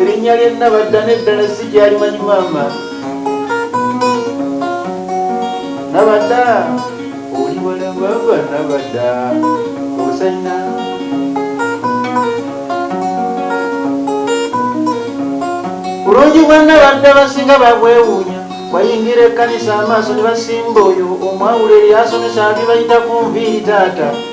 erinnya lye nabadda neddala si gyalimanyi maama nabadda oli wala baba nabadda osanyina bulungi bwa nabadda basinga babwewuunya bayingira ekkanisa amaaso ne basimba oyo omwawula eryasomesa abibayita ku nviiri taata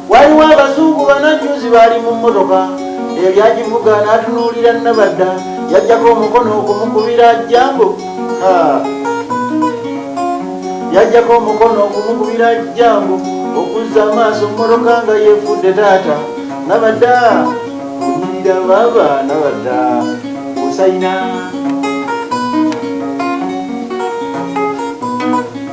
Waliwo abazungu bana jjuuzi baali mu mmotoka eyali agivuga n'atunuulira Nabadda yajjako omukono okumukubira ajjambo yajjako omukono okumukubira ajjambo okuzza amaaso mmotoka nga yeefudde taata Nabadda kunyirira baaba Nabadda osayina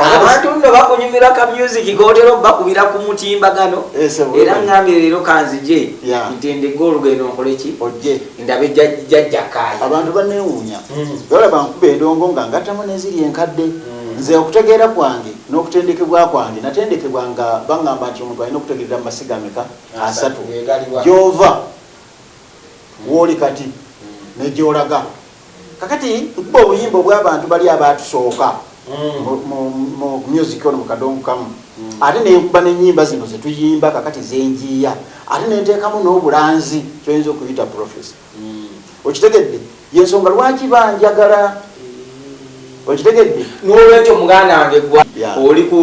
abantu nno bakunyumira ka music kotera obakubira ku mutimbagano eh, era ngambire leero kanzije ntendege olugendo nkoleki ndabe jajjakaaya abantu banewuunya hmm. ola bankuba endongo nga ngatamu neziri enkadde hmm. nze okutegeera kwange n'okutendekebwa kwange natendekebwa nga baŋŋamba nti omuntu alina okutegerera mu masiga ameka asatu gyova wooli kati hmm. negyolaga Kakati nkuba obuyimba obwabantu bali abaatusooka mu music ono mu kadongo kamu ate nenkuba nenyimba zino zetuyimba kakati zenjiiya ate nenteekamu n'obulanzi kyoyinza okuyita profesi okitegedde yensonga lwaki banjagala okitegedde nolwekyo muganda wange gwa oli ku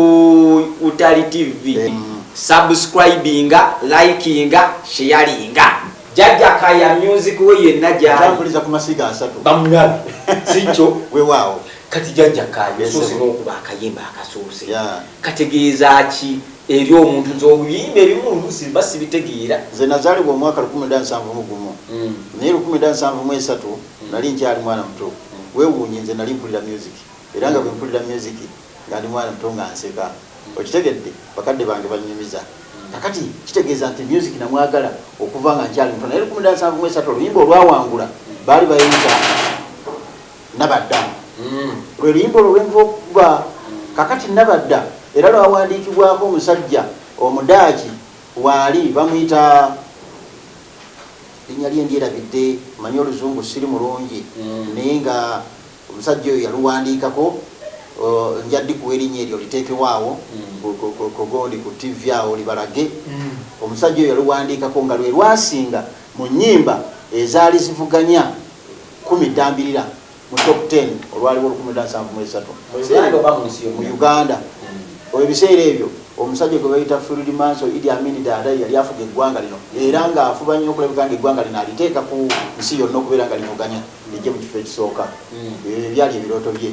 utali tv subscribinga likinga sharinga Jajja kaya music we yenna gyali. Nja mpuliza ku masiga asatu. Bamulabe. Sikyo. Wewaawo. Kati jajja kaya Yes, osoose sebo. n'okuba akayimba akasoose. Yeah. Kategeeza ki eri omuntu nti obuyimba ebimu oluusi mba sibitegeera. Nze nazaalibwa omwaka lukumi lwenda nsanvu mu gumu Mm. naye lukumi lwenda nsanvu mu esatu nali nkyali mwana muto. Weewuunye nze nali mpulira myuziki era nga bwe mpulira myuziki nga ndi mwana muto nga nseka okitegedde bakadde bange bannyumiza kakati kitegeeza nti music namwagala okuva nga nkyali muto naye lukumi dansanvu mwesatu oluyimba olwawangula baali bayinza nabadda mm. lwe luyimba olwo lwenva okuba kakati nabadda era lwawandiikibwako omusajja omudaaki waali bamuyita linya lye ndyerabidde manyi oluzungu siri mulungi mm. naye nga Omusajja oyo yaluwandiikako nja dikuwa erinya eryo oliteekewo awo kugundi ku TV awo libalage. Omusajja oyo yaluwandiikako nga lwe lwasinga mu nnyimba ezaali zivuganya Kumi Ddambirira mu Top Ten olwaliwo olukumi lwenda nsanvu mu esatu mu Uganda. Oyo ebiseera ebyo omusajja gwe bayita Field Marshal Idi Amin Dada ye yali afuga eggwanga lino era ng'afuba nnyo okulabika ng'eggwanga lino aliteeka ku nsi yonna okubeera nga livuganya. Nijje mu kifo ekisooka. Ebyo bye byali ebirooto bye.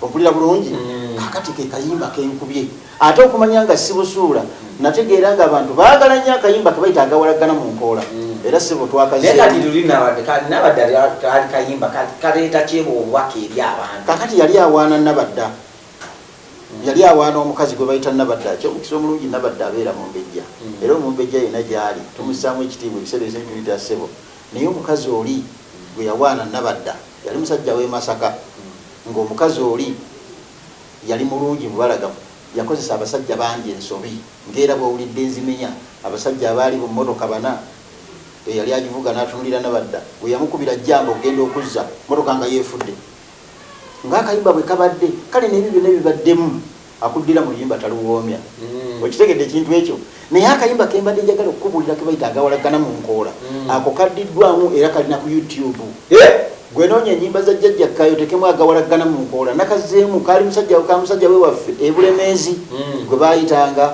Ompulira bulungi? Kaakati ke kayimba ke nkubye. Ate okumanya nga sibusuula, nnategeera ng'abantu baagala nnyo akayimba ke bayita agawalaggana mu nkoola. Era ssebo twakazzeemu. Naye kati luli Nabadda, ka, Nabadda ka, kaali kayimba ka, kaleeta ki obubaka eri abantu? Kaakati yali awaana Nabadda. Yali awaana omukazi gwe bayita Nabadda. Eky'omukisa omulungi Nabadda abeera Mumbejja. Era Omumbejja yenna gy'ali, tumussaamu ekitiibwa ebiseera ebisinga tumuyita ssebo. Naye omukazi oli gwe yawaana Nabadda yali musajja w'e Masaka ng'omukazi oli yali mulungi mubalagavu yakozesa abasajja bangi ensobi ng'era bw'owulidde Nzimenya abasajja abaali bu mmotoka bana eyali agivuga n'atunulira Nabadda gwe yamukubira jjamba okugenda okuzza mmotoka nga yeefudde ng'akayimba bwe kabadde kale n'ebyo byonna ebibaddemu Akuddira mu luyimba taluwoomya. Okitegedde ekintu ekyo? Naye akayimba ke mbadde njagala okukubuulira ke bayita Agawalaggana mu Nkoola, ako kaddiddwaamu era kali na ku YouTube. Hee! Ggwe noonya ennyimba za Jjajja Kkaaya oteekemu Agawalaggana mu Nkoola. Nakazzeemu, kaali musajja ka musajja we waffe e Bulemeezi gwe baayitanga.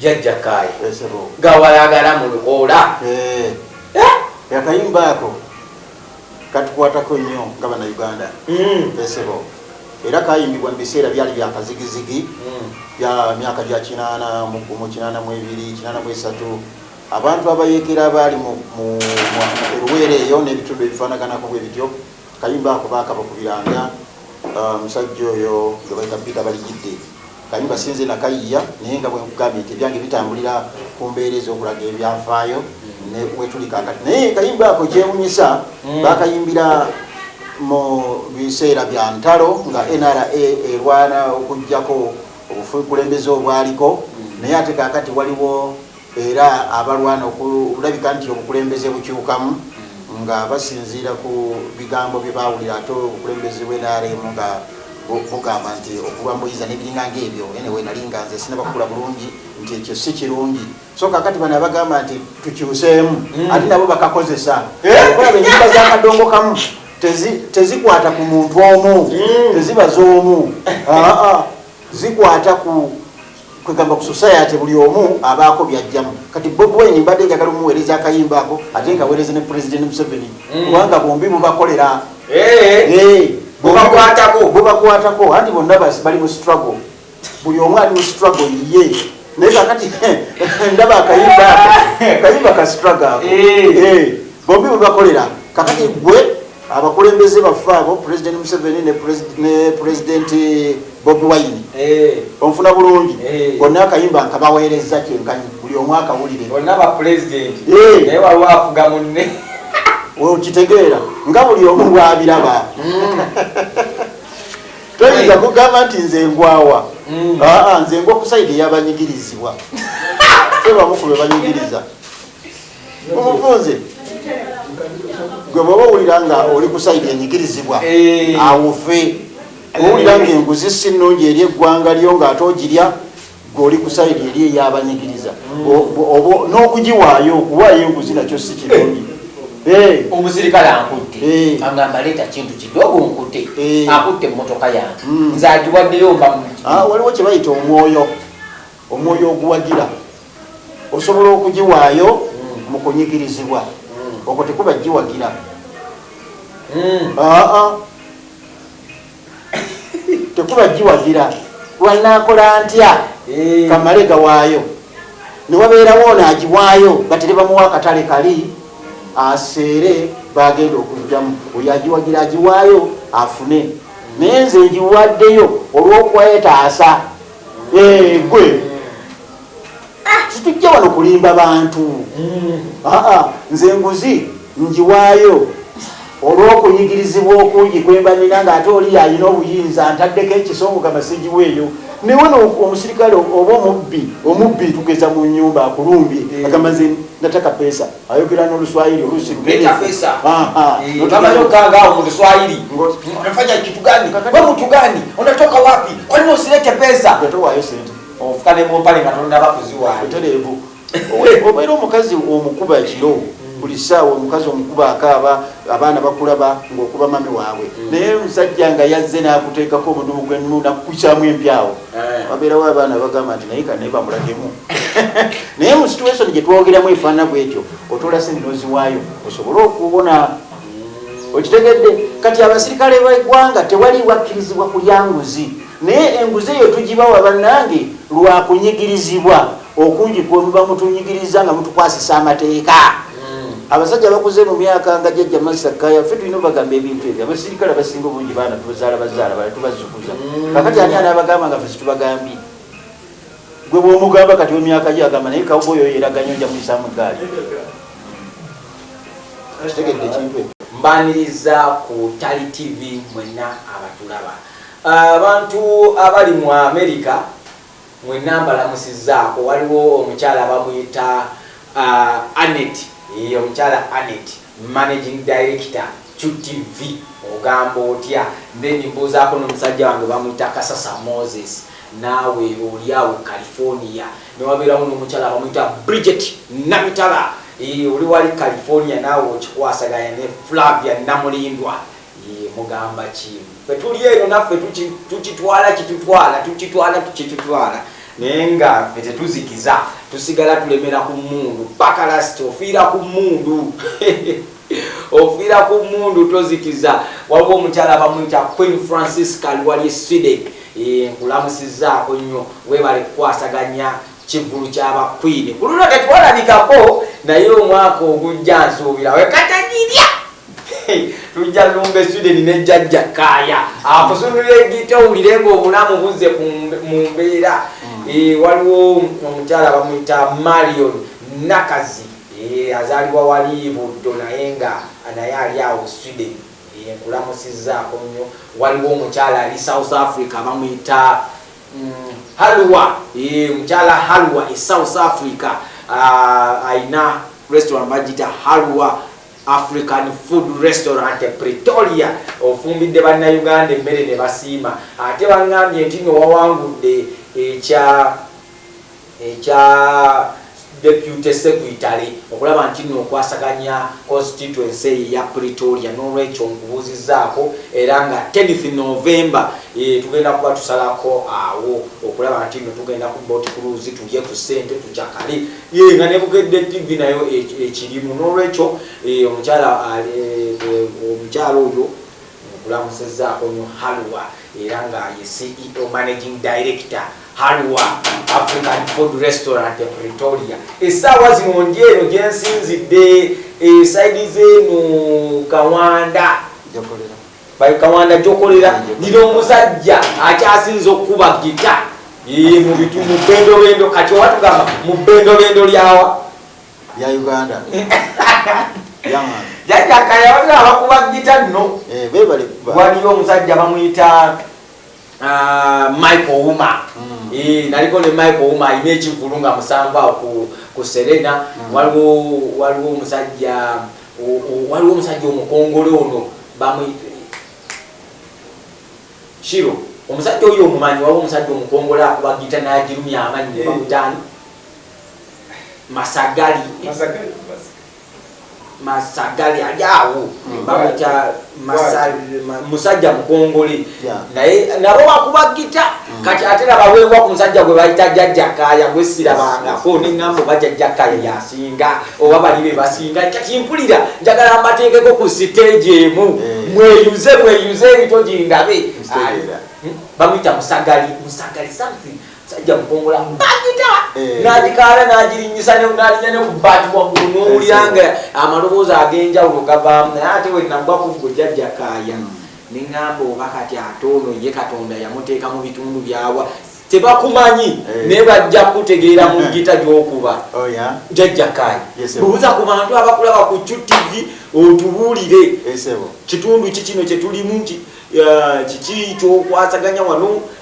jajja kaye gawalagala mu lukoola eh. Eh? akayimba ako katukwatako nnyo nga bana uganda hmm. esebo era kayimbibwa mu biseera byali byakazigizigi hmm. bya myaka gya kinaana mugumu kinaana mu ebiri kinaana mu esatu abantu abayekera abaali mu eruweera eyo n'ebitundu ebifaanaganako bwe bityo Akayimba ako baakabakubiranga musajja oyo gwe bayita Peter Baligidde. Akayimba si nze nakayiiya naye nga bwe nkugambye nti ebyange bitambulira ku mbeera ez'okulaga ebyafaayo ne wetuli kaakati. Naye akayimba ako kyewunyisa baakayimbira mu biseera bya ntalo nga NRA erwana okuggyako obukulembeze obwaliko naye ate kaakati waliwo era abalwana okulabika nti obukulembeze bukyukamu nga basinziira ku bigambo bye baawulira ate obukulembeze bwe nrm nga bugamba nti okulwa muyiza nebiringa ngaebyo enewe nali nga nze sinabakula bulungi nti ekyo si kirungi so kakati bano abagamba nti tukyuseemu hmm. ate nabo bakakozesa eh? okulaba enyimba zakadongo kamu tezikwata ku muntu omu hmm. teziba z'omu zikwata ku kwegamba ku society buli omu abaako byajjamu kati Bob Wine mbadde njagala omuweereza akayimba ako ate nkaweereze ne President Museveni mm. kubanga bombi bubakolera eh, eh, bubakwatako anti bonna bali mu struggle buli omu ali mu struggle ye naye kakati ndaba akayimba ako kayimba ka struggle ako eh. bombi bubakolera kakati gwe abakulembeze baffe abo president museveni ne president bobi wine eh. onfuna bulungi eh. bonna akayimba nkabaweerezza kyenkanyi buli omu akawulire okitegeera nga buli omu bwabiraba mm. toyinza kugamba nti nze ngwawa mm. nze ngwa okusaidi eyabanyigirizibwa fe bamukube banyigiriza obufunze gwe bwaba owulira nga oli kusaidi enyigirizibwa eh. awuve owulira nga enguzi si nungi eri eggwanga lyo nga ate ogirya gweoli kusaidi eri eyabanyigiriza mm. n'okugiwaayo okuwaayo enguzi nakyo si kirungi eh. Eh. omusirikale ankutte eh. agamba leeta kintu kidogo nkute eh. akutte emotoka yange hmm. nze agiwaddeyo mba ah, waliwo kyebayita omwoyo Omwoyo oguwagira osobola okugiwaayo mu kunyigirizibwa, okwo tekuba giwagira. Hmm. Ah, ah. tekuba giwagira lwanaakola ntya eh. kamale gawaayo newabeerawo ono agiwaayo batire bamuwa akatale kali aseere bagenda okujjamu oyo agiwagira agiwaayo afune naye nze ngiwaddeyo olwokwetaasa Eh, gwe situjja wano kulimba bantu mm. ah, ah, nze nguzi njiwaayo olw'okunyigirizibwa okungi kwembanina ng'ate oli yalina obuyinza ntaddeko ekisongo kamasigiwa eyo naye wano omusirikale oba omubbi omubbi tugeza mu nyumba akulumbye eh. agamba nze nataka pesa ayogera noluswahili olusi luneeabayogangaawo mu luswahili nafanya kitu gani we mutu gani unatoka wapi kwani usilete pesa yatowayo sente ofuka ne mumpale nga tonaba kuziwaayo tereevu obeera omukazi omukuba ekiro buli saawa omukazi omukuba akaaba abaana bakulaba ngaokuba mami waabwe mm. naye omusajja nga yazze n'akuteekako omudumu gwennu nakukukyamu empyawo Eh. wabeerawo abaana bagamba nti naye kane bamulagemu naye mu situation gyetwogeramu efaana bwetyo otoola sente noziwaayo osobole okubona okitegedde kati abasirikale begwanga tewali wakkirizibwa kulya nguzi naye enguzi eyo tugibawa bannange lwakunyigirizibwa Okungi kwe muba mutunyigirizza nga mutukwasisa amateeka. Abasajja abakuze mu myaka nga Jajja Master Kaya, ffe tulina obagamba ebintu ebyo. Abasirikale abasinga obungi baana tuzaala bazaala bala tubazukuza. Kakati ani anabagamba nga ffe situbagambye? Gwe bwomugamba kati wemyaka gyo agamba naye kawuba oyo yeraganyo nja muyisamu egaali. Kitegedde ekintu ekyo. Mbaniriza ku Tali TV mwenna abatulaba. Abantu abali mu America. Mwenna mbalamusizzaako. Waliwo omukyala bamuyita Annet, yee omukyala Annet, managing director Ccu TV, ogamba otya? Then mbuuzaako n'omusajja wange bamuyita Kasasa Moses, naawe oli awo e California. Ne wabeerawo n'omukyala bamuyita Bridget Namitala, yee oli wali California naawe okikwasaganya ne Flavia Namulindwa. Yii mugamba ki fe tuli eno naffe tukitwala kitutwala tukitwala kitutwala naye nga fe tetuzikiza tusigala tulemera ku mundu paka last ofiira ku mundu ofiira ku mundu tozikiza waliwo omukyala bamuyita queen francisca liwali sweden nkulamusizaako nnyo webale kukwasaganya Kivvulu kya ba Kkwiini ku luno tetwalabikako naye omwaka ogujja nsuubira we katagirya lujja lumba e Sweden ne Jjajja Kkaaya akusundulira eggita owulire ng'obulamu buzze mu mbeera. Hmm. Eh, waliwo omukyala bamuyita Marion Nakazi eh, azaalibwa wali Buddo naye nga naye ali awo Sweden eh, nkulamusizzaako nnyo. Waliwo omukyala ali South Africa bamuyita Halwa ee eh, mukyala Halwa e South Africa ah, alina uh, restaurant bagita Halwa African food restaurant e Pretoria ofumbidde banna Uganda emmere ne basiima ate bangambye nti no wawangudde ekya ekya Deputy Secretary okulaba nti nno nkwasaganya Constituency eyo eya Pretoria n'olwekyo nkubuuzizzaako era nga tenth November tugenda kuba tusalako awo okulaba nti nno tugenda ku Boat Cruise tulye ku ssente tucakale yee nga ne Bukedde TV nayo ekirimu n'olwekyo omukyala omukyala oyo nkulamusizzaako nnyo Halwa era nga ye CEO Managing Director Halwa African Food Restaurant e Pretoria. Essaawa zino ndi eno gye nsinzidde esaidi z'eno Kawanda bayo Kawanda gyokolera ndina omusajja akyasinza okukuba gita mu bitu mu bendobendo kati oba tugamba mu bendobendo lyawa lya Uganda jajja kayawazira abakuba gita nno eh, waliyo omusajja bamuyita Ah, Michael Uma mm. eh, naliko ne Michael Uma alina ekivulu nga musanvu awo ku, ku Serena mm. waliwo waliwo omusajja waliwo omusajja omukongole ono bamuyita shiro omusajja oyo omumanyi waliwo omusajja omukongole akuba gita nagirumya amanyi ne eh. bamutani masagali masagali ali awo hmm. bamuyita musajja mukongole naye nabo bakuba gita hmm. kati ate nabaweebwa ku musajja gwe bayita jajjakaya gwesirabangako neŋambo bajajjakaya yasinga oba bali be basinga kati mpulira njagala mbateekeko ku siteegi emu eh. mweyuze mweyuze ebito gindabe hmm? bamuyita musagali musagali something sajja kukongola bagita eh. nagikaala nagirinyisa nalinya nekubati waggulu nowulyanga eh, amaloboozi agenjawulo gavaamu naye ate wenagwa kuggo jajja kaaya hmm. neŋamba oba kati ate ono ye katonda yamuteeka mu bitundu byawa tebakumanyi eh. naye bajja kutegeera mu gita gyokuba oh, jajja kaaya buuza ku bantu abakulaba ku qtv otubuulire kitundu ki kino kyetulimu kiki kyokwasaganya wano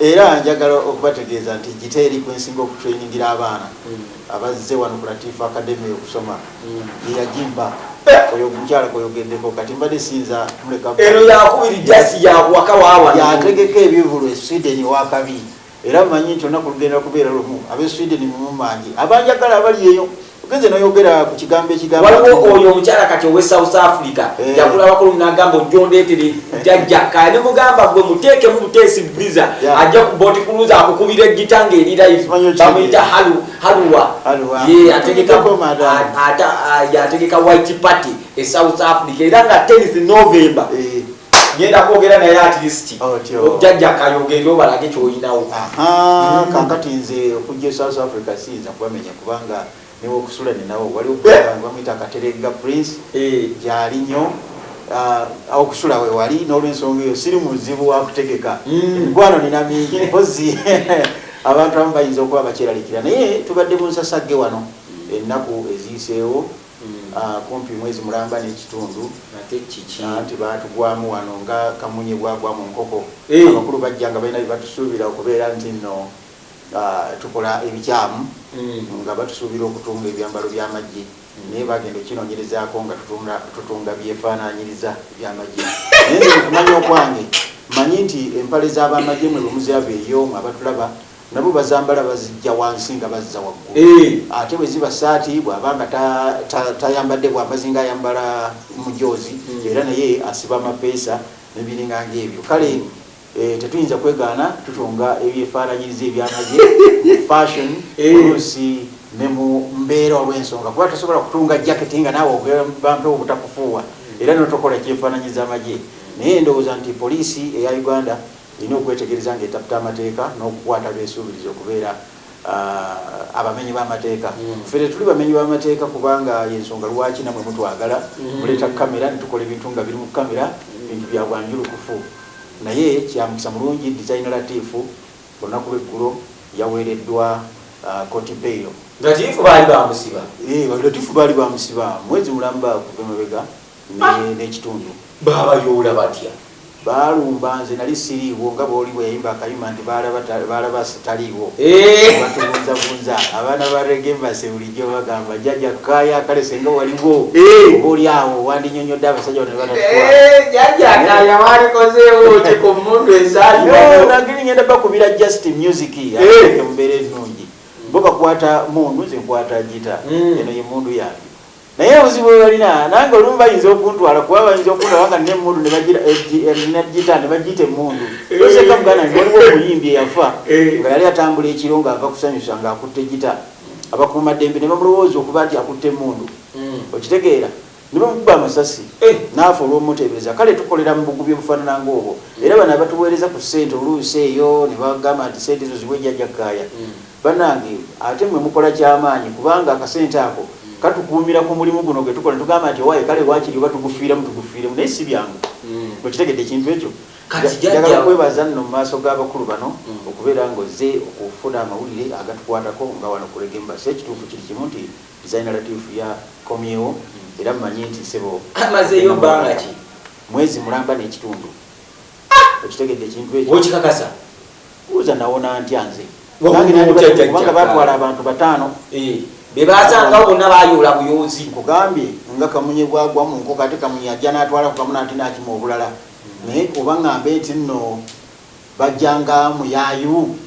Era njagala okubategeeza nti Gita eri kwe nsinga okutrainingira abaana abazze wano ku Latifu Academy okusoma ye yagimba. Oyo omukyala gwoyogeddeko kati mbadde siyinza muleka. Eno yakubiri just yakuwaka waawano. Yategeka ebivulu e Sweden ew'akabi era mmanyi nti olunaku lugenda kubeera lumu ab'e Sweden mumumange abanjagala abali eyo. Ogenze noyogera ku kigambo ekigambo. Waliwo oyo omukyala kati owe South Africa eh. yakula abakulu nagamba ojja ondeetere jajja kaya ne mugamba gwe muteekemu buteesi visa ajja ku booti kuluza akukubira eggita ng'eri live bamuyita halu haluwa ye ategeka ategeka white party e South Africa era nga tenisi November eh. ngenda kwogera naye atleast jajja kayogere obalage kyoyinawo mm. kakati nze okujja e south africa siyinza kubamenya kubanga niwe okusula ninawo waliwo eh? bamwita kateregga prince eh. gyali nyo ah, okusula wewali nolwensonga eyo siri muzibu wakutegeka mm. emigwano nina mingi mpozi abantu abamu bayinza okuba bakyeralikira naye tubadde bunsasagge wano ennaku eziyiseewo kumpi mwezi mulamba n'ekitundu anti baatugwamu wano nga kamunye bwagwa mu nkoko. Abakulu bajja nga balina bye batusuubira okubeera nti nno tukola ebikyamu nga batusuubira okutunga ebyambalo by'amagye naye baagenda okukinoonyerezaako nga tutunga byefaanaanyiriza eby'amagye naye nze mu kumanya okwange mmanyi nti empale z'abamagye mwe bwe muziabeeyo mwe abatulaba Nabo bazambala bazijja wansi nga bazza waggulu ate bwe ziba ssaati bw'aba nga tayambadde bwambazi ng'ayambala mujoozi era naye asiba amapeesa n'ebiringa ng'ebyo kale tetuyinza kwegaana tutunga ebyefaananyiriza eby'amagye mu fashion oluusi ne mu mbeera olw'ensonga kuba tosobola kutunga jaketi nga naawe ogamba mpewo butakufuuwa era notokola kyefaananyiza amagye naye ndowooza nti poliisi eya Uganda Nnina okwetegereza ng'etaputa amateeka n'okukwata abeesuubiriza okubeera abamenyi b'amateeka. Ffe tetuli bamenyi b'amateeka kubanga y'ensonga lwaki nammwe mutwagala, muleeta kkamera ne tukola ebintu nga biri mu kkamera, bintu bya bwanjulukufu. Naye kya mukisa mulungi Dizayina Latif olunaku lw'eggulo yaweereddwa kkooti beyiro. Latif baali bamusiba? Yee, Latif baali bamusiba mwezi mulamba okuva emabega. n'ekitundu baabayoola batya? Baalumba nze nali siriiwo nga bw'oli bwe yayimba akayimba nti baalaba sitaliiwo eh! batubunzabunza abaana ba rege mbase bulijjo bagamba jjaja kaya kale senga waliwo eh! oba oli awo wandinyonyodde abasajja bano nebatatwajajakaya eh, walikozeewo ki ku mundu esaagiri ngenda bakubira just music embeera ennungi bo bakwata mundu nze nkwata gita hmm. eno ye mundu yange Naye obuzibu bwebalina nange olumu bayinza okuntwala kuba bayinza okundaba nga nina emundu nebagita eh, nebagiyita emundu oseka muganda nti waliwo omuyimbi eyafa eh. nga yali atambula ekiro nga ava kusanyusa nga akutte gita abakuuma ddembe nebamulowooza okuba nti akutte emundu hmm. okitegeera nebamukuba amasasi eh. naafa olwomuteebereza kale tukolera mu bugubi obufaanana ngaobwo hmm. era bano abatuweereza ku ssente oluusi eyo nebagamba nti sente ezo zibwe jajakaaya hmm. Banange ate mwe mukola kyamaanyi kubanga akasente ako katukuumira ku mulimu guno gwe tukola ne tugamba nti owaye kale wakiri oba tugufiiramu tugufiiremu naye si byangu. Okitegedde ekintu ekyo? Njagala kwebaza nno mu maaso g'abakulu bano okubeera nga ozze okufuna amawulire agatukwatako nga wano ku Reggae Embassy. Ekituufu kiri kimu nti Designer Latif ya komyewo era mmanyi nti ssebo agenda mu maaso. Mwezi mulamba n'ekitundu. okitegedde ekintu ekyo okikakasa buuza nawona ntya nze kubanga batwala abantu bataano eh, bebasangawo bonna bayoola buyoozi nkugambye nga kamunye bwagwa mu nkoko ate kamunye ajja natwala kukamuna ati nakima obulala naye oba ngambe nti nno bajjanga muyayu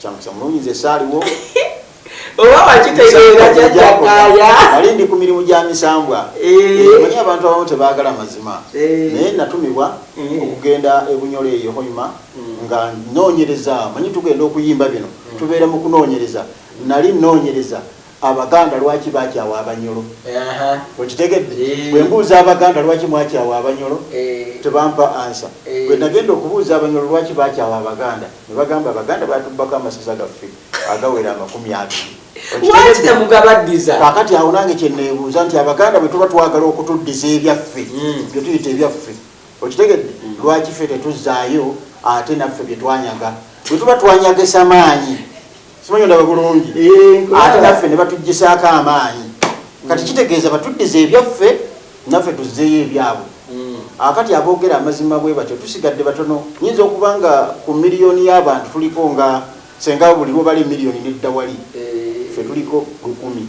Kyamusa mulungi nze saaliwo. Oba wakitegeera jajjakaya. Nali ndi ku mirimu gya misambwa. Eh. Eh, manyi abantu abamu tebaagala mazima. Eh. Naye natumibwa okugenda e Bunyole eyo Hoima mm. nga noonyereza manyi tugenda okuyimba bino mm. tubeera mu kunoonyereza nali noonyereza Abaganda lwaki bakyawa abanyolo okitegedde bwembuuza abaganda lwaki mwakyawa abanyolo tebampa ansa bwenagenda okubuuza abanyolo lwaki bakyawa abaganda nebagamba abaganda batubbako amasaza gaffe agawera amakumi abiri kakati awo nange kyenebuuza nti abaganda bwetuba twagala okutuddiza ebyaffe hmm. byetuyita ebyaffe okitegedde hmm. lwaki fe tetuzaayo ate naffe byetwanyaga bwetuba twanyagesa maanyi simanyi ondaba bulungi eh, ate naffe ne batuggisaako amaanyi kati kitegeeza batuddiza ebyaffe naffe tuzzeeyo ebyabwe hmm. akati aboogera amazima bwe batyo tusigadde batono nyinza okuba nga ku miliyoni y'abantu tuliko nga senga buli lwobali miliyoni neddawali eh. fe tuliko lukumi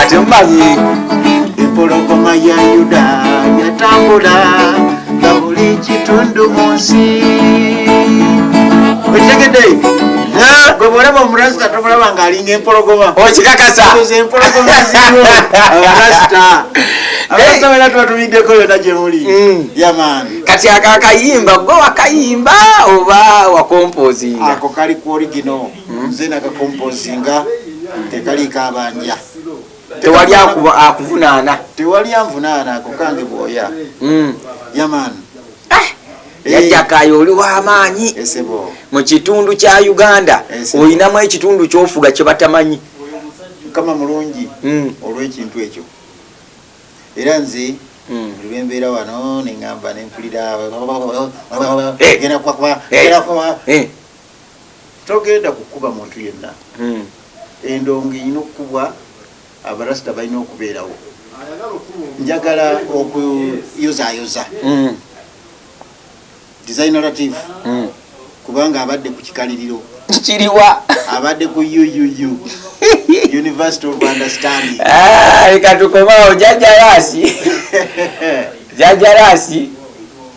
ate mumanyi empologoma ya yuda yatambula nga buli kitundu mu nsi okitegedde gwe bwolaba omurasita tomulaba nga alinga empologoma okikakasa empologoma ziriwo abarasita abasabeera twatumiddeko yona gyemuli mm. yamaani kati akakayimba gwe wakayimba oba wakompozinga ako kali ku origino nze nakakompozinga tekaliiko abanja tewali akuvunaana tewali anvunaana ako kange bwoya hmm. yaman eh, eh. yajjakayo oli wamaanyi eh, mu kitundu kya uganda olinamu ekitundu kyofuga kyebatamanyi mukama mulungi hmm. olwekintu ekyo era nze hmm. lwembeera wano neŋamba nempulira togenda kukuba muntu yenna hmm. endongo erina okukubwa abarasita balina okubeerawo njagala okuyozayoza hmm. designerative hmm. kubanga abadde ku kikaliriro kiriwa abadde ku uuu university of understanding ah, leka tukomawo jajalaasi jajalaasi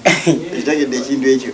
ekitegedde ekintu ekyo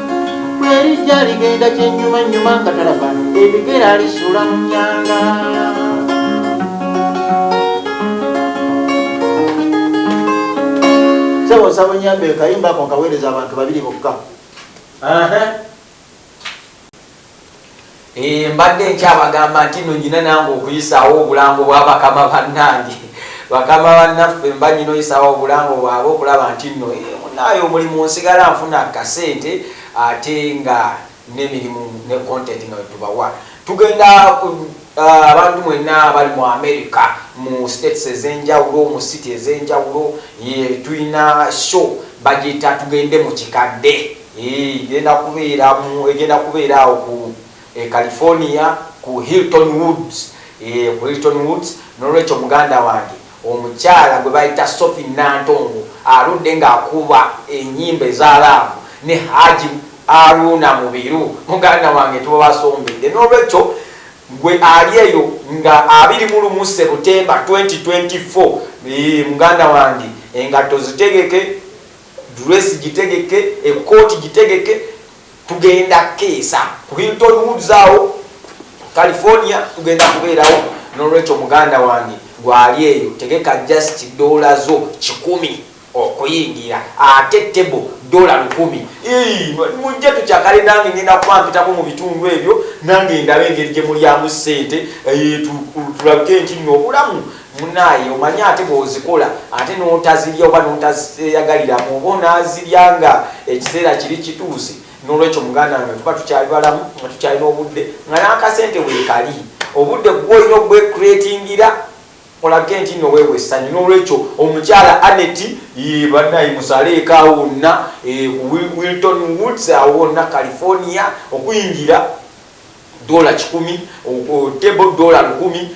bwerijja ligenda kyenyuma nyuma nga talaba ebigera alisula mu nyanga sebo nsaba onyambe kayimbako nkaweereza abantu babiri bokka Eh, mbadde nkyabagamba nti no nyina nange okuyisaawo obulango bwa bakama bannange bakama bannaffe mba nyina oyisaawo obulango bwaba okulaba nti no eh, munaayo omulimu nsigala nfuna kasente ate nga nemirimu ne content nga wetubawa tugenda ah, abantu mwenna bali mu america mu states ezenjawulo mu city ezenjawulo tulina show bagiyita tugende mu kikadde Yii, egenda kubeera mu, egenda kubeera awo ku e California ku Hilton Woods, yee, ku Hilton Woods. N'olwekyo muganda wange, omukyala gwe bayita Sophie Nantongo aludde nga akuba enyimba eza laavu ne Haji Haruna Mubiru, muganda wange, tuba basombedde. N'olwekyo gwe ali eyo nga abiri mu lumu September twenty twenty four, yii, muganda wange, engatto zitegeke, Dress gitegeke, ekooti gitegeke tugenda keesa ku Hilton Woods awo California tugenda kubeerawo nolwekyo muganda wange gwe ali eyo tegeka just dollar zo kikumi okuyingira ate table dollar lukumi iyii mujje tukyakale nange ngenda kuba mpitako mu bitundu ebyo nange ndabe engeri gye mulyamu sente eeh tulabike nti nno obulamu Munaye omanyi ate bwozikola ate notazirya oba notazeyagaliramu oba onazirya nga ekiseera kiri kituuse nolwekyo muganda wange tuba tukyali balamu nga tukyalina obudde nga nakasente wekali obudde gwe olina ogwe creatingira olabike ntinno weewa essanyu nolwekyo omukyala Annet yii banaye musaleeko awo wonna e Wilton Woods awo wonna California okuyingira Dollar kikumi, table dollar lukumi,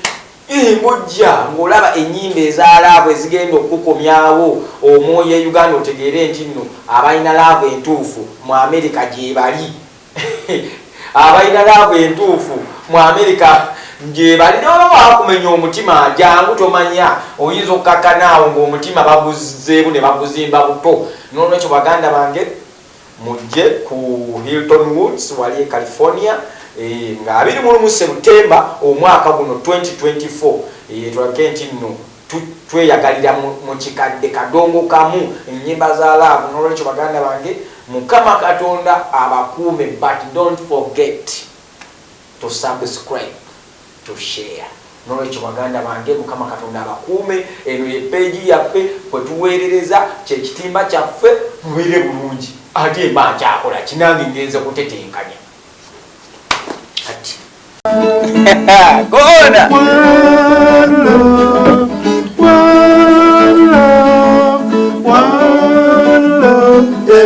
ii ng'ojja ng'olaba ennyimba eza laavu ezigenda okukukomyawo omwoyo e Uganda otegeere nti nno abalina laavu entuufu mu Amerika gyebali. Abalina laavu entuufu mu Amerika gyebali. Ne bwebaba bakumenya omutima jangu tomanya oyinza okkakkana awo ng'omutima baguzzeemu ne baguzimba buto. N'olwekyo baganda bange Mujje ku Hilton Woods wali e California eeh nga abiri mu lumu September omwaka guno 2024 eeh tulabike nti nno tu tweyagalira mu mu kikadde kadongo kamu ennyimba za laavu n'olwekyo baganda bange Mukama Katonda abakuume but don't forget. to subscribe to share nolwekyo baganda bange mukama katonda abakuume eno ye page yaffe kwetuwerereza kyekitimba kyaffe mubeere bulungi ate mba nkyakola kinange ngenze kutetenkanya kati kona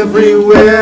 everywhere.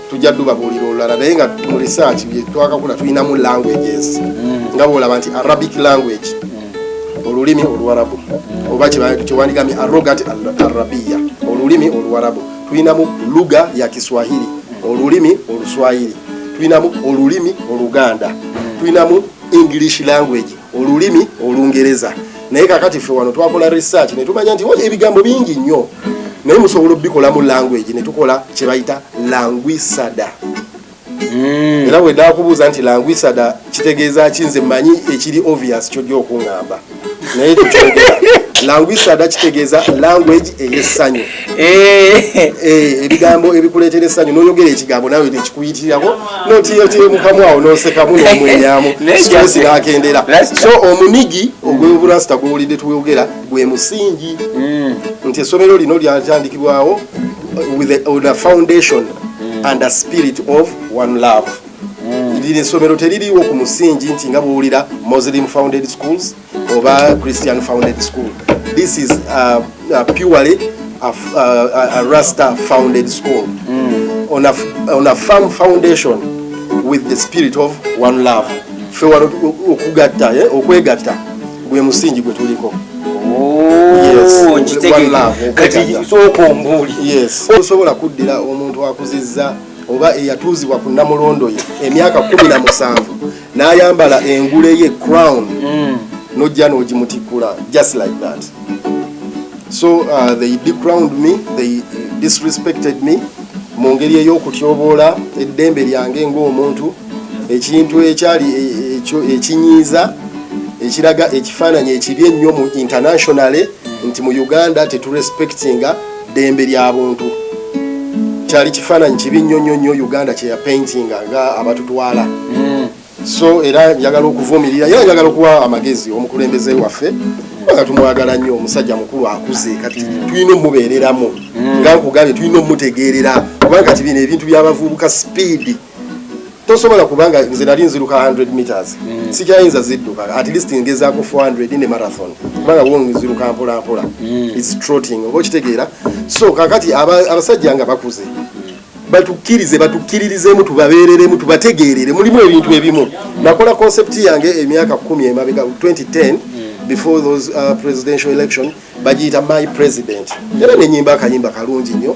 tujja tubabuulira olulala naye nga mu research bye twakakula tulinamu languages mm. nga bwolaba nti arabic language mm. olulimi oluwarabu mm. oba kyewandigamye arogat arabiya olulimi oluwarabu tulinamu luga ya kiswahili olulimi oluswahili tulinamu olulimi oluganda tulinamu english language olulimi olungereza naye kakati ffe wano twakola research ne tumanya nti wali ebigambo bingi nnyo naye musobola obikolamu language ne tukola kye bayita languisada hmm. era bwe nakubuuza nti languisada kitegeeza ki nze manyi ekiri obvious kyojja okuŋŋamba naye tukyogera languisada kitegeeza language ey'essanyu Eh. Eh, ebigambo ebikuleetera essanyu n'oyogera ekigambo naawe nekikuyitirako notiyotiye mukamu awo nosekamu nomwenyamu stress nakendera so omunigi ogweburasita gwowulidde twogera gwe musingi mm. nti essomero lino lyatandikibwawo on a foundation mm. and a spirit of one love mm. lino essomero teririiwo ku musingi nti nga bwowulira muslim founded schools oba christian founded school this is uh, uh, purely a, uh, a rasta founded school mm. on, a, on a firm foundation with the spirit of one love fe wano okugatta eh, okwegatta gwe musingi gwe tuliko oh, osobola kuddira omuntu akuziza oba eyatuuzibwa ku namulondo ye emyaka kumi na musanvu n'ayambala engule ye crown mm. nojja n'ogimutikkula just like that so uh, they decrowned me they disrespected me mu ngeri ey'okutyoboola eddembe lyange ng'omuntu ekintu ekyali e, e, ekinyiiza ekiraga ekifaananyi ekibi ennyo mu internationally nti mu uganda teturespectinga ddembe lya buntu kyali kifaananyi kibi nnyo nnyo nnyo uganda kyeya paintinga nga abatutwala hmm. so era njagala okuvumirira era njagala okuwa amagezi omukulembeze waffe kubanga tumwagala nnyo omusajja mukulu akuze kati hmm. tulina omubeereramu hmm. nga nkugambye tulina omutegeerera kubanga kati bino ebintu byabavubuka sipiidi tosobola kubanga nze nali nziruka 100 meters mm. sikyayinza zidduka at least ngezaako 400 ne marathon kubanga wo nziruka mpola mpola mm. its trotting oba okitegeera so kakati abasajja nga bakuze batukkirize batukkiririzemu tubabeereremu tubategeerere mulimu ebintu ebimu nakola concept yange emyaka 1 emabega 2010 before those uh, presidential election bagiyita my president era nenyimba akayimba kalungi nnyo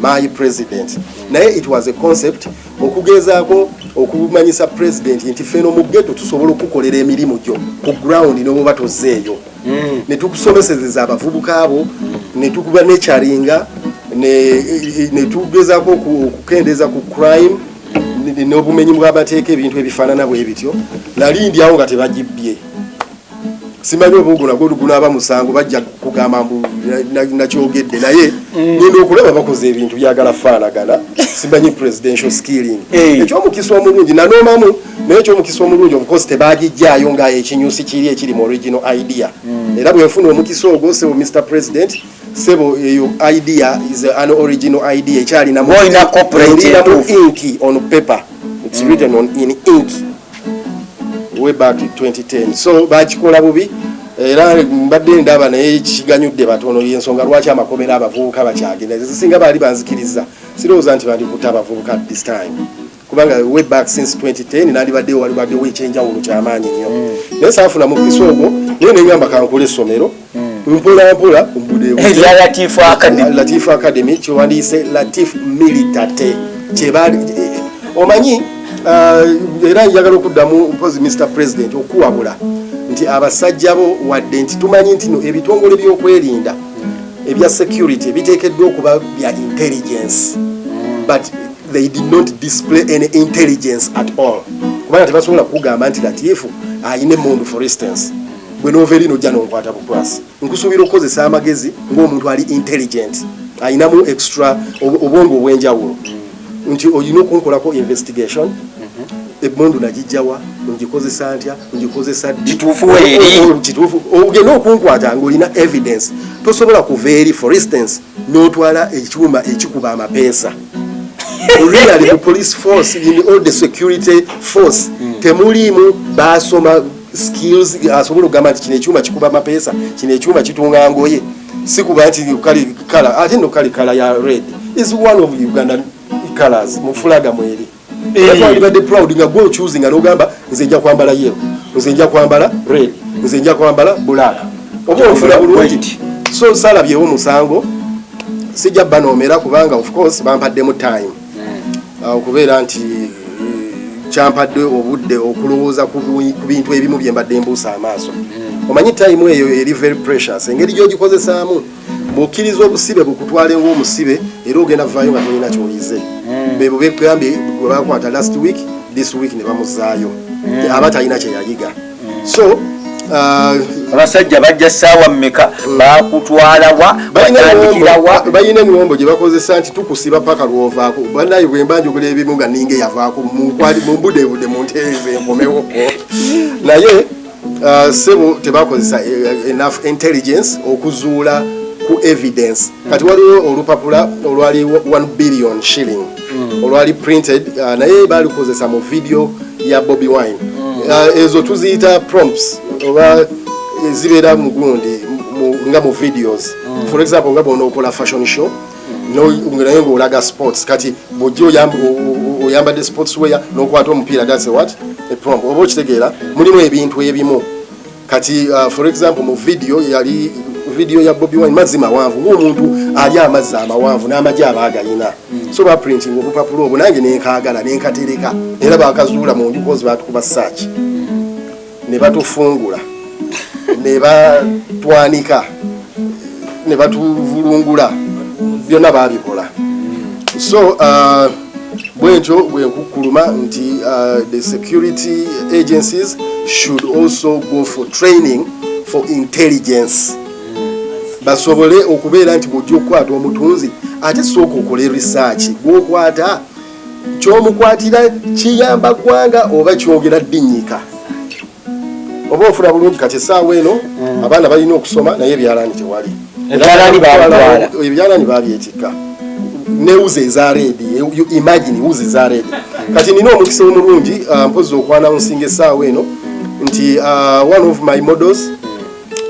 my president naye it was a concept okugezaako okumanyisa president nti feno mu geto tusobola okukolera emirimu gyo ku ground nobuba tozeeyo mm. netukusomesezeza abavubuka abo netukuba nekyaringa netugezaako okukendeeza ku crime n'obumenyi bw'amateeka ebintu ebifaanana bwe bityo nali ndyawo nga tebagibbye simanyi oba ogwo nagwo gunaaba musango bajja kugamba mbu nakyogedde naye mm. genda okulaba bakoze ebintu byagala faanagana simanyi presidential skilling eh. ekyomukisa omulungi nanoomamu naye ekyomukisa omulungi obukozi tebagijjaayo nga ekinyusi kiri ekiri mu original idea mm. era bwenfuna omukisa ogwo sebo mr president sebo eyo idea is an original idea ekyalinamu inki on paper its mm. written on in inki way back 2010 so bakikola bubi era mbadde ndaba naye kiganyudde batono yensonga lwaki amakomera abavubuka bakyagenda zisinga baali banzikiriza sirowooza nti bandikuta abavubuka this time kubanga way back since 2010 nandibadde walibaddewo ekyenjawulo kyamaanyi nnyo mm. naye saafunamu kisa ogwo naye nengamba kankula essomero mpolampola obudeelatifu eh, academy kyewandiise latif militate kyebali eh, omanyi uh, era njagala okuddamu mpozi mr president okuwabula nti abasajja bo wadde nti tumanyi nti no ebitongole byokwerinda ebya security biteekeddwa okuba bya intelligence but they did not display any intelligence at all kubanga tebasobola kukugamba nti latifu ayina emundu for instance bwe noova eri nojja nonkwata bukwasi nkusuubira okukozesa amagezi ng'omuntu ali intelligent alinamu extra obwongo obw'enjawulo nti olina okunkolako investigation mhm. emundu nagijjawa ngikozesa ntya ngikozesa kituufu ogenda okunkwata ngaolina evidence tosobola kuva eri for instance n'otwala ekyuma ekikuba amapeesa really mu police force in all the security force hmm. temuliimu baasoma skills asobola okugamba nti kino ekyuma kikuba mapeesa kino ekyuma kitunga ngoye sikuba nti kali kala ate no kali kala ya red is one of ugandan colors mu fulaga mweri ebadde eh. proud nga gwe ocuzi nga nogamba nze nja kwambala yero nze nja kwambala red nze nja kwambala black oba ofuna bulungi so salabyewo musango sijja banoomera kubanga of course bampaddemu time hmm. ah, okubeera nti eh, kyampadde obudde okulowooza ku bintu ebimu bye mbadde mbuusa amaaso hmm. omanyi tayimu eyo eri very precious engeri gyogikozesaamu bwokkiriza obusibe bukutwale ngaomusibe era ogenda vaayo nga tolina kyoyize hmm. bebo begambye gwe bakwata last week this week ne bamuzaayo aba talina kyeyayiga so uh, abasajja bajja saawa mmeka mm. bakutwalawa batandikirawa balina emiwombo gye bakozesa nti tukusiba paka lwovaako banaye bwemba njogula ebimu nga ninga eyavaako mumbudebude mu ntereeza enkomewo naye uh, sebo tebakozesa uh, enough intelligence okuzuula ku evidence kati waliwo olupapula olwali 1 billion shilling mm. olwali printed uh, naye balikozesa mu video ya bobi wine mm. uh, ezo tuziyita prompts oba zibeera mugundi nga mu videos mm. for example nga bona okola fashion show mm. naye ngaolaga sports kati bujja oyambadde sports weya nokwata omupiira that's what a prompt oba okitegeera mulimu ebintu ebimu kati uh, for example mu video yali video ya Bobby Wine mazzi mawanvu ng'omuntu ali amazzi amawanvu n'amagi aba agalina mm. so baprinting obupapula obwo nange nenkaagala nenkatereka era bakazuula mu nju kozi batukuba search ne batufungula ne batwanika ne batuvulungula byonna baabikola so uh, bwentyo bwenkukkuluma nti uh, the security agencies should also go for training for intelligence basobole okubeera nti bwojja okukwata omutunzi ate sooka okole research gwokwata kyomukwatira kiyamba ggwanga oba kyogera ddinyika oba ofuna bulungi kati esaawa eno mm. abaana balina okusoma naye ebyalaani tewali ebyalaani babyetikka ne wuzi eza redi imagine wuzi eza redi mm. kati nina omukisa omulungi uh, mpozi okwana nsinga esaawa eno nti uh, one of my models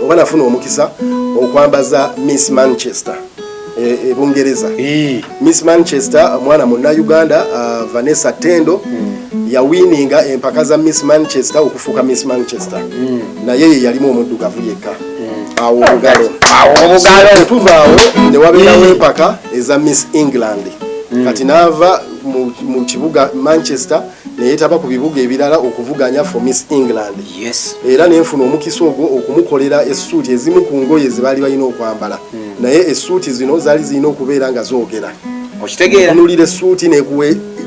oba nafuna omukisa okwambaza miss manchester ebungereza e, e eh. miss manchester mwana munauganda uh, vanessa tendo mm. yawininga empaka za miss manchester okufuuka miss manchester mm. naye ye yalimu omuddugavu yekka mm. awo obugalo tuvaawo newaberawo empaka eza miss england kati naava mu kibuga manchester neyetaba ku bibuga ebirala okuvuganya for Miss England yes. era nenfuna omukisa ogwo okumukolera essuuti ezimu ku ngoye zebaali balina okwambala mm. naye essuuti zino zaali zirina okubeera nga zoogera okitegeeraunulira essuuti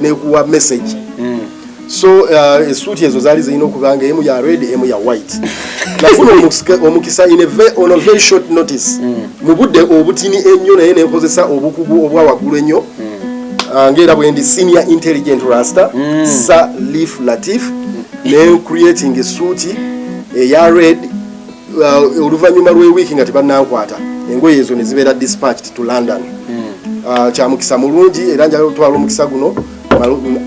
nekuwa message mm. so uh, essuuti ezo zaali zirina okuba nga emu ya red emu ya white nafuna omukisa in on a very short notice mm. mu budde obutini ennyo naye nenkozesa obukugu obwa waggulu ennyo ah, ngaera bwendi senior intelligent rasta mm. sa leaf latif mm. ne creating esuuti eya eh, red uh, oluvanyuma lwewiiki nga tebanankwata engoye ezo nezibeera dispatched to london mm. ah, kyamukisa mulungi era njala otwala omukisa guno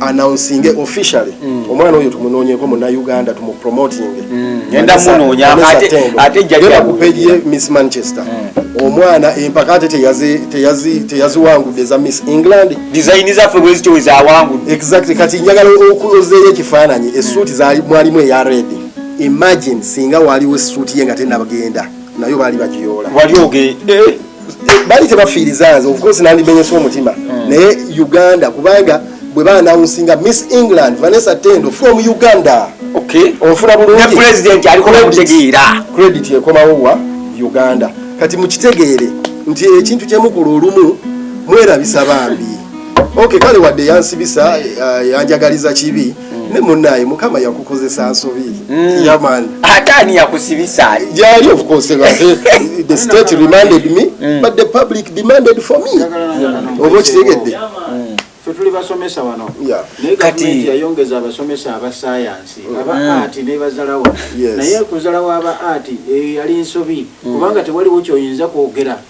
announcinge officially omwana oyo tumunonyeko munauganda tumupromotinge ngenda hmm, munoonya ate jjajja ku peegi ye miss manchester hmm. omwana empaka ate teyaziwangudde eza miss england dizayini zaffe bwezityo wezawangudde exactly kati njagala okuzeeyo ekifaananyi esuuti mwalimu eya red imagine singa waliwo esuuti ye nga tenabagenda nayo baali bagiyoola wali oge eh? bali tebafiiriza nze ofcourse nandimenyesa omutima hmm. naye uganda kubanga bwe baanawunsinga miss england vanessa tendo from uganda ofuna bulungipresident alikokutegeera credit ekomawo wa uganda kati mukitegeere nti ekintu kyemukula olumu mwerabisa bambi ok kale wadde yansibisa eh, yanjagaliza kibi ne munaye mukama yakukozesa nsobi mm. yaman ate ani yakusibisa jali of course the state reminded me mm. but the public demanded for me oba okitegedde tuli basomesa wano naye gavumenti yayongeza abasomesa aba sayansi mm. aba mm. ati nebazalawo naye kuzalawo aba ati eh, yali nsobi mm. kubanga tewaliwo kyoyinza kwogera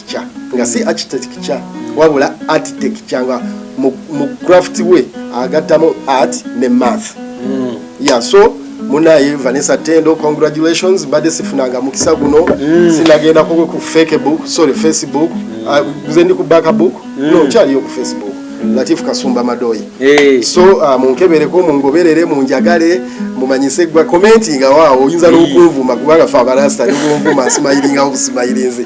architecture nga si architecture wabula architecture nga mu craft we agattamu art ne math mm. yeah so munaye vanessa tendo congratulations mbadde sifunanga mukisa guno mm. sinagenda kogwe ku fake book sorry facebook mm. uh, nze ndi ku baka book mm. no kyaliyo ku facebook mm. latif kasumba madoyi hey. so uh, munkebereko mungoberere munjagale mumanyise gwa commentinga waawo oyinza hey. nokunvuma kubanga fe abarasta nikunvuma nsimayiringawo busimayirinzi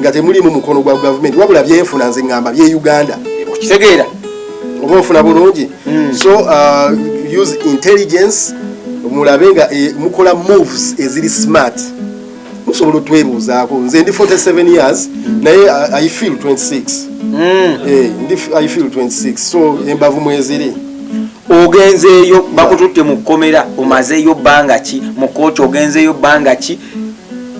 nga temulimu mukono gwa gavumenti wabula byenfuna nze ngamba bye uganda okitegeera oba ofuna bulungi hmm. so uh, use intelligence mulabe nga eh, mukola moves eziri smart musobola otwebuuzaako nze ndi 47 years hmm. naye uh, i feel 26 hmm. eh, ndi i feel 26 so embavu mweziri ogenzeeyo bakututte mu kkomera omazeeyo bbanga ki mu kooti ogenzeeyo bbanga ki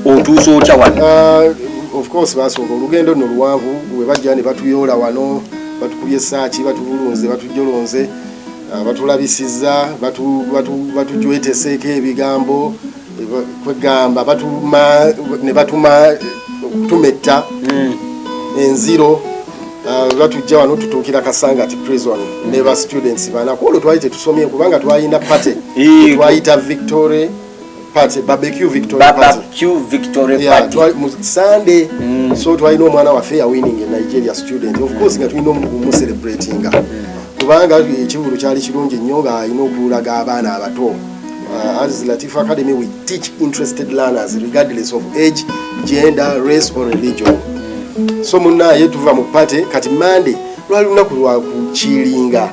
otuusa otya wano uh, of course basooka olugendo no luwanvu webajja ne batuyoola wano batukubye esaaki batubulunze batujolonze uh, batulabisiza batujweteseeko ebigambo kwegamba batuma ne batuma tumetta hmm. enziro uh, batujja wano tutuukira kasangati prison ne ba students bana kwolwo twali tetusomye kubanga twalina party twayita victoria party barbecue victory barbecue victory party yeah twali mu sunday mm. so twali no mwana wafe ya winning in nigeria student of course nga tulino mu celebrating mm. kubanga ekivulu kyali kirungi nnyo nga alina okulaga abaana abato uh, as latif academy we teach interested learners regardless of age gender race or religion mm. so munaye tuva mu party kati monday lwali lunaku lwakukiringa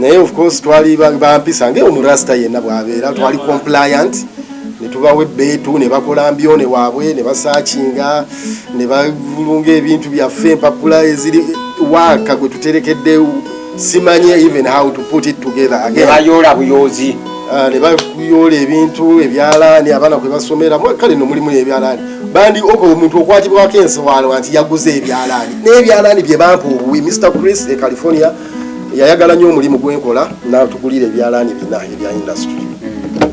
naye of course twali bampisa nge omurasta yenna bwabeera twali compliant netubawa ebbeetu ne bakola mbyone waabwe ne basaakinga ne bavulunga ebintu byaffe empapula eziri waaka gwe tuterekedde simanyi even how to put it together agebayoola buyoozi ah, ne bakuyoola ebintu ebyalaani abaana kwe basomera kale no mulimu ebyalaani bandi oko omuntu okwatibwako ensowaalo nti yaguze ebyalaani n'ebyalaani bye bampa obuwi mr chris e california yayagala nnyo omulimu gwenkola natugulira ebyalaani bina ebya industry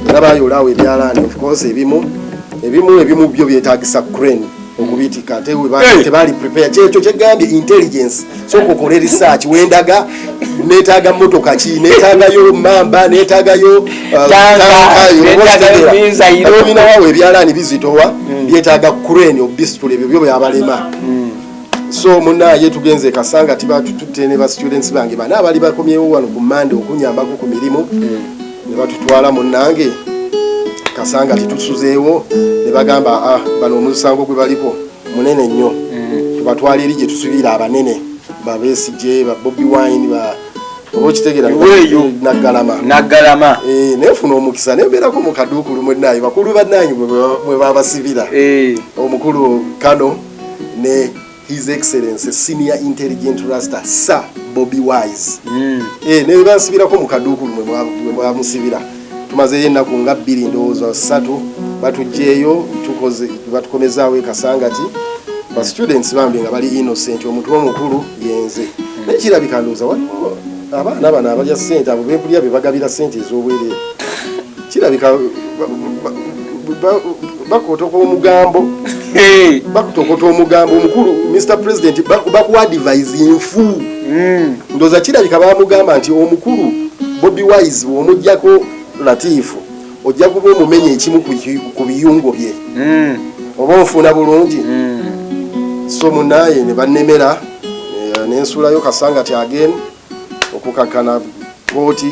era bayolaawo ebyalaani ofcourse ebimu ebimu ebimu byo byetagisa crane okubitika tebaali prepare kyekyo kyegambye intelligence soka okole research wendaga netaga motoka ki netagayo mamba netagayo uh, tankayoobinawawo ebyalaani bizitowa mm. byetaga crane obisitula ebyo byo byabalema mm. so munaye tugenze kasanga tibatututte ne ba students bange bana abali bakomyewo wano ku mande okunyambako ku mirimu ne batutwala munange kasanga titusuzeewo ne bagamba ah, bano omusango gwe baliko munene nnyo mm. tubatwala eri gye tusubira abanene babesije babobi wine ba okitegeragalama eh, nefuna omukisa nembeerako mukaduukulu mwenaye bakulu bananyi mwebabasibira eh. omukulu kano ne his excellency senior intelligent rasta sir bobi wise mm. e, eh, nebansibirako mu kaduukulu mwemwamusibira tumazeyo ennaku nga bbiri ndowooza ssatu batugyeyo tukoze batukomezaawo ekasangati ba students bambi nga bali innocent omuntu omukulu yenze mm. naye kirabika ndowooza waliwo abaana bano abalya sente abo bekulya bebagabira sente ez'obwereere kirabika bakotoko omugambo bakutokota omugambo omukulu mr president bakuadivis nfu hmm. ndoza kirabika bamugamba nti omukulu bobi wise omujjako latifu ojja kuba omumenya ekimu ku biyungo bye hmm. oba onfuuna bulungi hmm. so munaye ne bannemera eh, nensuulayo kasanga ti agen okukakana kooti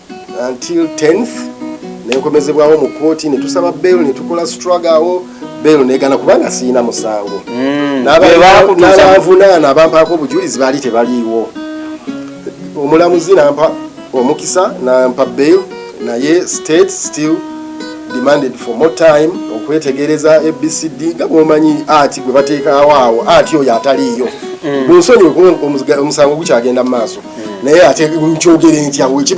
until 10th nenkomezebwawo mu kooti netusaba bel netukola struggle awo bel negana kubanga siyina musango mm. nabanvunaana abampaako obujulizi baali tebaliiwo omulamuzi nampa omukisa nampa bel naye state still demanded for more time okwetegereza abcd nga bwomanyi ati gwe bateekawo awo ati oyo ataliiyo mm. munsonyi omusango gukyagenda mu maaso mm. naye ate nkyogere ntya wekiba